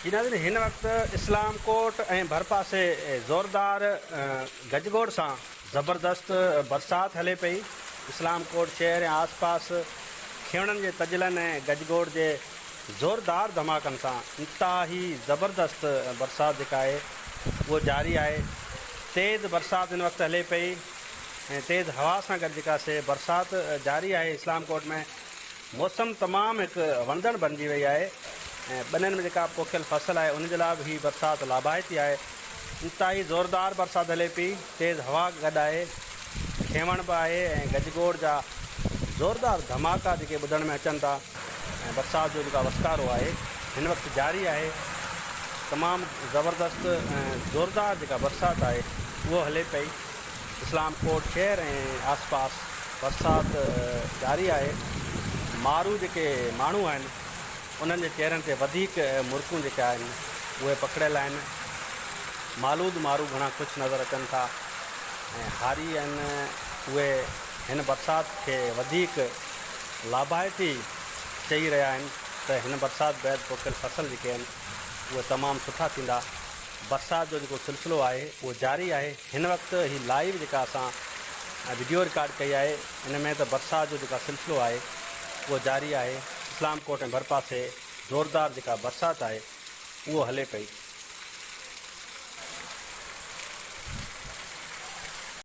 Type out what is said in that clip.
جي ناظرين هن وقت اسلام ڪوٽ ۽ ڀرپاسي زوردار گجگوڙ سان زبردست برسات هلي پئي اسلام ڪوٽ شهر ۽ آس پاس کيوڻن جي تجلن ۽ گجگوڙ جي زوردار ڌماڪن سان انتهائي زبردست برسات جيڪا آهي اهو جاري آهي تيز برسات هن وقت هلي پئي ۽ تيز هوا سان گڏ جيڪا سي برسات جاري آهي اسلام ڪوٽ ۾ موسم تمام هڪ وڻندڙ بڻجي وئي آهي ۽ ٻنين ۾ جيڪا پوکيل فصل آهي ان جي لاء به هي برسات لاڀائتي آهي. انتهائي زوردار برسات هلي پئي، تيز هوا گڏ آهي، کينوڻ به آهي ۽ گج گوڙ جا زوردار ڌماڪا جيڪي ٻڌڻ ۾ اچن ٿا ۽ برسات جو جيڪا وسڪارو آهي هن وقت جاري آهي، تمام زبردست ۽ زوردار جيڪا برسات آهي اهو هلي پئي. اسلام ڪوٽ شهر ۽ آسپاس برسات جاري آهي، مارو جيڪي ماڻهو آهن انهن جي چهرن تي وڌيڪ مرڪون جيڪي آهن اهي پکڙيل آهن، مالود مارو گهڻا خوش نظر اچن ٿا ۽ هاري آهن اهي هن برسات کي وڌيڪ لاڀائتي چئي رهيا آهن ته هن برسات بعد پوکيل فصل جيڪي آهن اهي تمام سٺا ٿيندا، برسات جو جيڪو سلسلو آهي اهو جاري آهي. هن وقت هي لائيو جيڪا اسان وڊيو رڪارڊ ڪئي آهي ان ۾ ته برسات جو جيڪا سلسلو آهي اهو جاري آهي اسلام ڪوٽ ۽ ڀرپاسي زوردار جيڪا برسات آهي اهو هلي پئي.